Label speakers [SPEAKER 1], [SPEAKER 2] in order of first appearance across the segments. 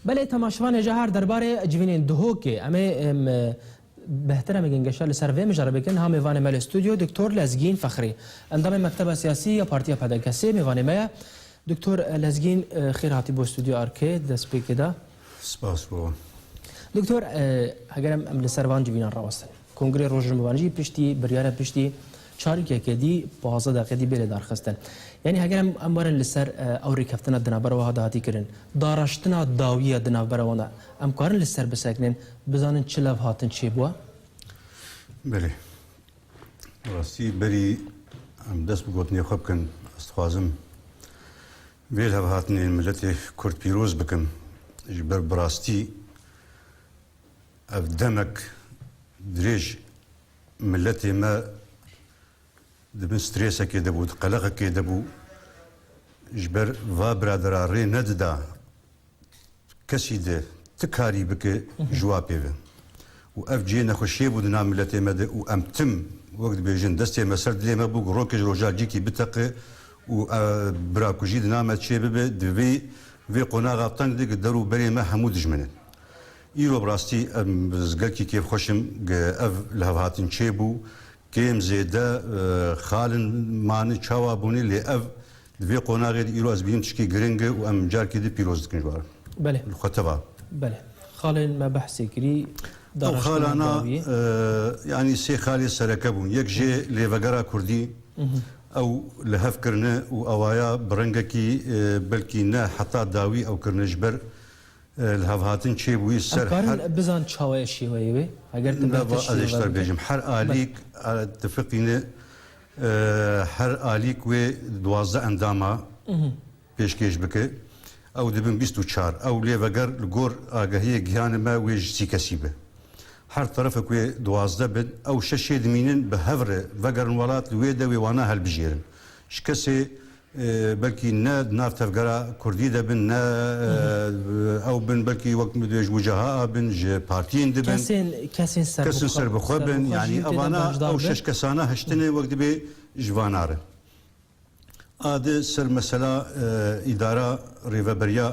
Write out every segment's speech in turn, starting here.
[SPEAKER 1] Belê temaşevanê jehar derbarê civînên dihokê em ê behtir em ê gengeşa li ser vê mijarê bikin ha mêvanê me li stûdyo Doktor Lezgîn Fexrî endamê mekteba siyasî ya Partiya PDK'sê mêvanê me ye. Doktor Lezgîn xêr hatî bo stûdyoya RK di destpêkê de. Spas bo.
[SPEAKER 2] Doktor
[SPEAKER 1] heger em em li ser van civînan rawestin. Kongrê Rojhilavan jî piştî biryara piştî çarikeke dî pazdeh deqê dî bê lêdarxistin. Yanî heger em em werin li ser ew rêkeftina di navbera wiha de hatî kirin, dareştina dawî ya di navbera wan de em karin li ser bisekinin, bizanin çi levhatin çêbûye?
[SPEAKER 2] Belê. Bi rastî berî em dest bi gotinê xwe bikin, ez dixwazim vê levhatinê miletê Kurd pîroz bikim. Ji ber bi rastî Ev demek dirêj miletê me di bin strêsekê de bû, di qeleqekê de bû. Ji ber va biradera rê nedida kesî di ti karî bike jiwa pê ve. Û ev cihê nexweşiyê bû di nav miletê me de û em tim wek dibêjin destê me ser dilê me bû ku rokê ji roja cîkî biteqe û birakujî di nav me çêbibe di vê vê qonaxa teng de ku der û berê me hemû dijmin in. Îro bi rastî ez gelkî kêf xweş im ke ev lihevhatin çêbû. Kêm zêde xal in mane çawa bûne lê ev di vê qonaxê de îro ez bînim tişkê giring e û em carkê din pîroz dikin ji wan re. Li xwe teva. Belê.
[SPEAKER 1] Xalên me behsê kirî. Ew xalana
[SPEAKER 2] yanî sê xalê sereke bûn. Yek jê lêvegera kurdî ew li hev kirine û awaya bi rengekî belkî ne heta dawî ew kirine ji ber Li hevhatin çê bûyî ser her. Ez karim bizan çawa
[SPEAKER 1] ye şêweyê wê? Heger tu bêhtir şî. Ez ê ji te re
[SPEAKER 2] bêjim. Her alîk tu fiqîne her alîk wê duwazdeh endama pêşkêş bike. Ew dibin bîst û çar. Ew lê veger li gor agehiyê giyanê me wê ji sî kesî be. Her terefek wê duwazdeh bin. Ew şeşê dimînin bi hev re vegerin welat li wê de wê wana helbijêrin. Ji kesê Belkî ne di nav tevgera kurdî de bin, ne ew bin belkî wek min dibêje ji wicaha bin, ji partiyên di bin. Kesên
[SPEAKER 1] serbixwe
[SPEAKER 2] bin. Yanî evana ew şeş kesana hiştinê wek dibê ji va narin. A di ser mesela îdara rêveberiya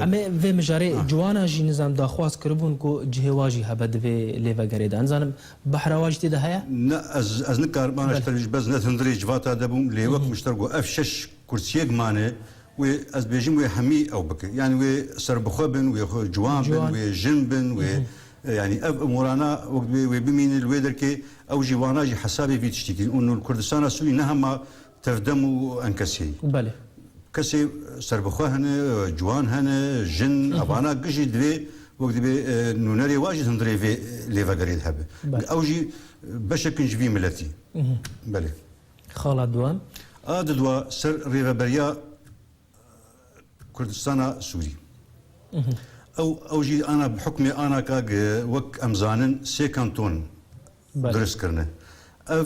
[SPEAKER 2] Em
[SPEAKER 1] ê vê mijarê ciwanan jî nizam daxwaz kiribûn ku cihê wan jî hebe di vê lêvegerê de. Nizanim behra wan jî tê de heye? Ne, ez ez
[SPEAKER 2] nikarim ana ji te ji bez ne hundirê civata de bûm lê wek min ji te got ev şeş kursiyek mane wê ez bêjim wê hemî ew bike. Yanî wê serbixwe bin, wê xwe ciwan bin, wê jin bin, wê yanî ev umurana wek divê wê bimîne li wê derkê ew jî wana jî hesabê vî tiştî kirin û li Kurdistana Sûrî ne hema Tevdem û enkesî. Belê.
[SPEAKER 1] Kesê
[SPEAKER 2] serbixwe hene, ciwan hene, jin, evana giş jî divê wek dibê nûnerê wa jî hundirê vê lêvegerê de hebe. Ew jî beşek in ji vî miletî. Belê. Xala
[SPEAKER 1] Duan. A didwa
[SPEAKER 2] ser rêveberiya Kurdistana Sûrî. Ew ew jî ana bi hukmê ana ka wek em zanin sê kanton in. durist kirine. Ev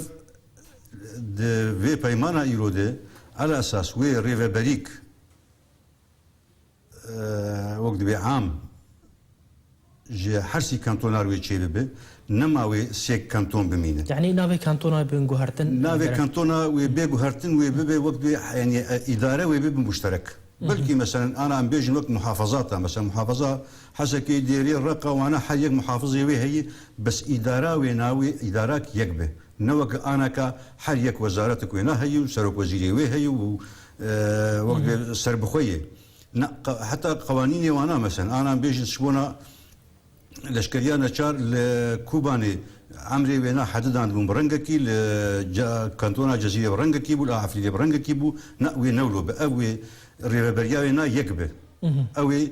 [SPEAKER 2] di vê peymana îro de elesas wê rêveberîk wek dibê am ji hersî kantonar wê çêbibe, nema wê sêk kanton bimîne. Yanî navê kantona wê
[SPEAKER 1] bin guhertin? Navê kantona
[SPEAKER 2] wê bê guhertin wê bibe wek dibê yanî îdare wê bibin muşterek. Belkî meselen ana em bêjin wek muhafazat a, meselen muhafaza Hesekê dêrê reqa wana her yek muhafizê wê heyî bes îdara wêna wê îdarak yek be. Ne weke ana ka her yek wezaretik wêna heyî û serokwezîrê wê heyî û wek dê serbixwe yê. Na heta qewanînê wana mesen anan bêjin sibona leşkeriya neçar li Kûbanê emrê wêna hedidan bûn bi rengekî li kantona Cezîrê bi rengekî bû li Efrînê bi rengekî bû na wê newlo be ev wê rêveberiya wêna yek be ewê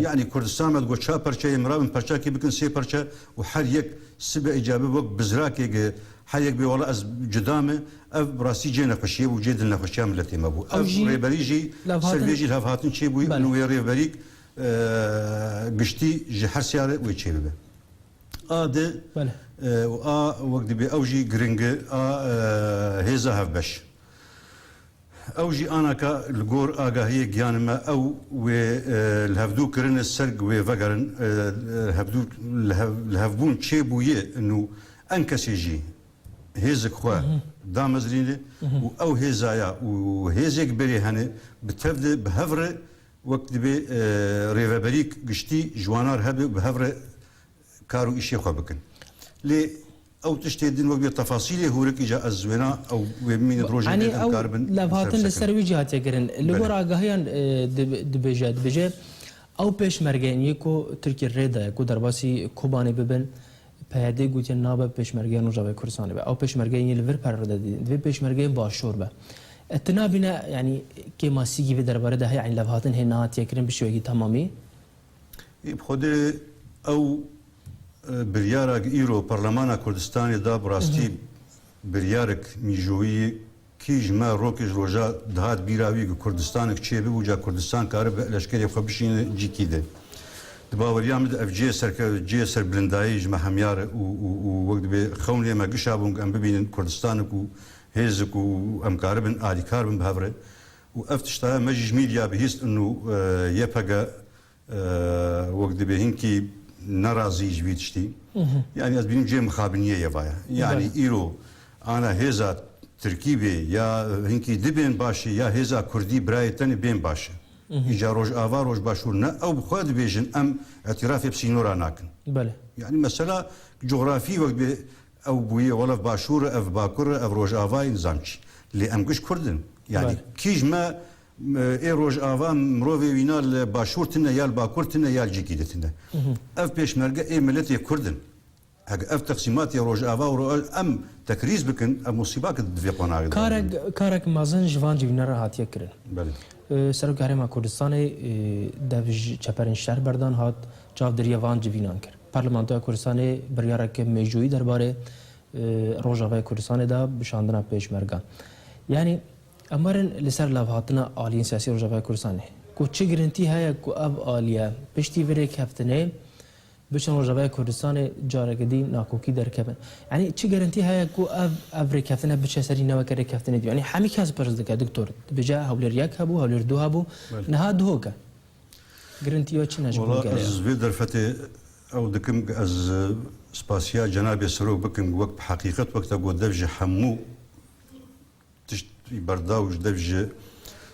[SPEAKER 2] Yanî Kurdistan me digot çar parçe ye, mirabin parçakî bikin sê parçe û her yek sibe ê cabi wek bizrakê gi her yek bê wala ez cuda me, ev bi rastî cê nexweşî ye û cê dilnexweşiya miletê me bû. Ev rêberî jî ser vê jî levhatin çê bûye û wê rêverîk giştî ji her seyare wê çê bibe. A di û a wek dibê ew jî giring e a hêza hevbeş. Ew jî ana ka li gor agahiyê giyanê me ew wê li hevdû kirinê serg wê vegerin hevdû li hevbûn çê bûyê nû en kesê jî hêzik xwe damezrînê û ew hêza ya û hêzêk berê henê bi tev de bi hev re wek dibê rêveberîk giştî ji wanar hebê û bi hev re kar û îşê xwe bikin. Lê ew tiştê din wek bê tefasîlê hûrik îca ez wêna ew wê bimîne di rojê dê em kar bin. Ew
[SPEAKER 1] levhatin li ser wî jî hatiye kirin. Li gor agahiyan dibêje, dibêje ew pêşmerge yên ku Tirkiye rê daye ku derbasî Kobanê bibin, PYD gotiye nabe pêşmergeya Rojavayê Kurdistanê be. Ew pêşmerge yên li vir perre de didin. Divê pêşmergeyên başûr be. Ez ti nabîne yanî kêmasîgî vê derbarê de heye yanî levhatin hê nehatiye kirin bi şêwekî temamî. Yê bi
[SPEAKER 2] xwedê ew biryara ku îro Parlemana Kurdistanê da bi rastî biryarek mîjoyî ye kî ji me rokê ji roja dihat bîra wî ku Kurdistanek çê bibû ca Kurdistan karibe leşkerê xwe bişîne cî kî de. Di baweriya min de ev cihê serkevt cihê serbirindayî ji me hemyar e û û û wek dibê xewnê me gişabûn ku em bibînin Kurdistanek û hêzik û û em karibin alîkar bin bi hev re Û ev tişta ye, me jî ji mîdya bihîst in û YPG wek dibê hinkî nerazî ji vî tiştî. Yanî ez bînim cihê mixabiniyê ye vaye. Yanî îro ana hêza tirkî bê ya hinkî dibên baş e ya hêza kurdî birayê tenê bên baş e. Îca rojava rojbaşûr ne ew bi xwe dibêjin em îtîrafê bi sînora nakin. Yanî
[SPEAKER 1] mesela
[SPEAKER 2] cografî wek dibê Ew bûye wal ev başûr e, ev bakur e, ev rojava ye, nizam çi. Lê em giş kurd in. Yanî kîj me ê rojava mirovê wîna li başûr tune ya li bakur tune ya li cihkî di tune. Ev pêşmerge ê miletê kurd in. Eger ev teqsîmatê rojava û em tekrîz bikin ev musîba ki di vê qonagê de Karek anîne. karek
[SPEAKER 1] mezin ji van civînan re hatiye kirin. Belê.
[SPEAKER 2] Serokê Herêma
[SPEAKER 1] Kurdistanê dev ji çeperên şer berdan hat, çavdêriya van civînan kir. Parlamentoya Kurdistanê biryarek mêjoyî derbarê Rojavayê Kurdistanê da bi şandina Pêşmergan. Yanî em werin li ser lavhatina aliyên siyasî Rojavayê Kurdistanê ku çi girintî heye ku ev aliye piştî vê rêkeftinê biçin Rojavayê Kurdistanê careke dî nakokî derkeve. Yanî çi girintî heye ku ev ev rêkeftine biçe serî ne weke rêkeftinê dî. Yanî hemî kes pirs dike diktor dibêje hewlêr yek hebû, hewlêr du hebû, niha duhok e. Girintiya çi ne ji bo gelê? Ez vê
[SPEAKER 2] derfetê ew dikim ku ez spasiya cenabê Serok bikim ku wek bi heqîqet wek te got dev ji hemû tişt berda û ji dev ji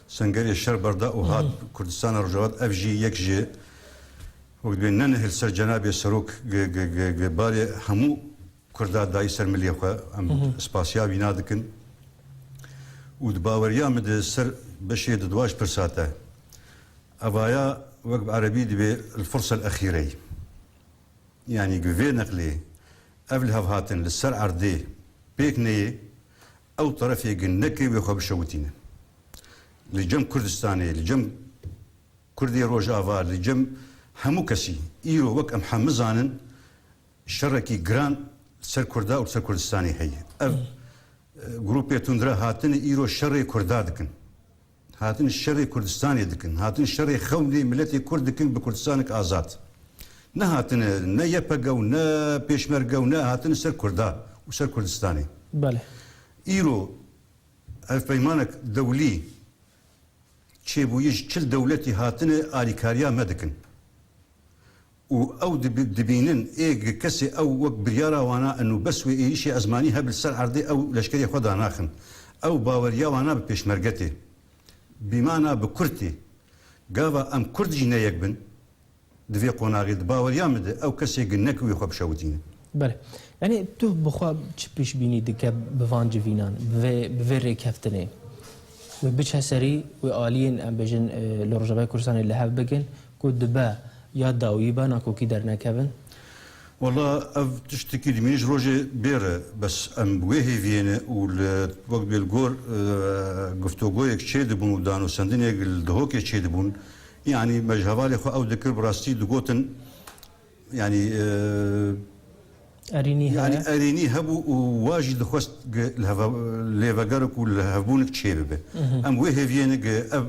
[SPEAKER 2] sengerê şer berda û hat Kurdistana Rojava ev jî yek ji wek divê nenihil ser cenabê Serok barê hemû Kurda dayî ser milê xwe em spasiya wî nadikin û di baweriya min de ser beşê di duwa ji pirsa te evaya wek bi erebî dibê elfursa elexîrey yanî bi vê neqlê ev lihevhatin li ser erdê pêk neyê ew terefê gin neke wê xwe bişewitîne li cem Kurdistanê li cem Kurdê rojava li cem hemû kesî îro wek em hemû zanin Şerekî giran li ser Kurda û li ser Kurdistanê heye. Ev grûpê tundre hatine îro şerê Kurda dikin. Hatine şerê Kurdistanê dikin. Hatine şerê xewnê miletê Kurd dikin bi Kurdistanek azad. Nehatine ne YPG û ne Pêşmerge û ne hatine li ser Kurda û ser Kurdistanê. Belê.
[SPEAKER 1] Îro
[SPEAKER 2] hevpeymanek dewlî çêbûyî ji çil dewletî hatine alîkariya me dikin. û ew dibînin ê kesê ew wek biryara wana in û bes wê êrîşê ezmanî heb li ser erdê ew leşkerê xwe danaxin. Ew baweriya wana bi pêşmerge tê. Bîmana bi kurd tê. Gava em kurd jî ne yek bin di vê qonaxê di baweriya min de ew kesê gin ne ku wê xwe bişewitînin. Belê.
[SPEAKER 1] Yanî tu bi xwe çi pêşbînî dike bi van civînan, bi vê bi vê rêkeftinê? Wê biçe serî, wê aliyên em bêjin li Rojavayê Kurdistanê li hev bigin, Ku dibe ya dawî be nakokî dernekevin. Walla
[SPEAKER 2] ev tiştekî dimîne ji rojê bêr e. Bes em bi wê hêviyê ne û li wek bê li gor giftogoyek çê dibûn û danosendinêk li Dihokê çê dibûn yanî me ji hevalê xwe ew dikir bi rastî digotin yanî yanî erênî hebû û wa jî dixwest lê vegerek û lihevbûnik çê bibe. Em bi wê hêviyê ne ev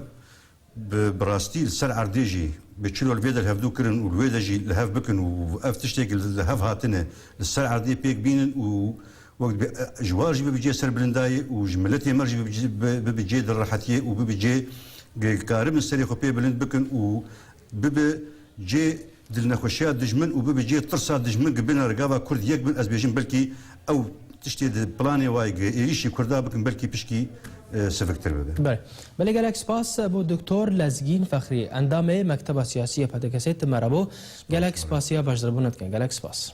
[SPEAKER 2] Bi bi rastî li ser erdê jî bi çilo li vê de li hevdu kirin û li wê de jî li hev bikin û ev tiştê ku li hev hatine li ser erdê pêk bînin û wek dibê ji war jî bibe cê serbilindayê û ji miletê me jî bibe cê dilrehetiyê û bibe cê girêdkaribin serê xwe pê bilind bikin û bibe cê Dilnexweşiya dijmin û bibe cihê tirsa dijmin ku bêne li gava Kurd yek bin ez bêjim belkî ew tiştê di planê wayê ku êrîşî Kurda bikin belkî pişkî siviktir bibe. Belê. Belê gelek spas
[SPEAKER 1] bo Doktor Lezgîn Fexrî endamê Mekteba Siyasî yê PDKSê tim me re bo. Gelek spasiya beşdaribûna dikin. Gelek spas.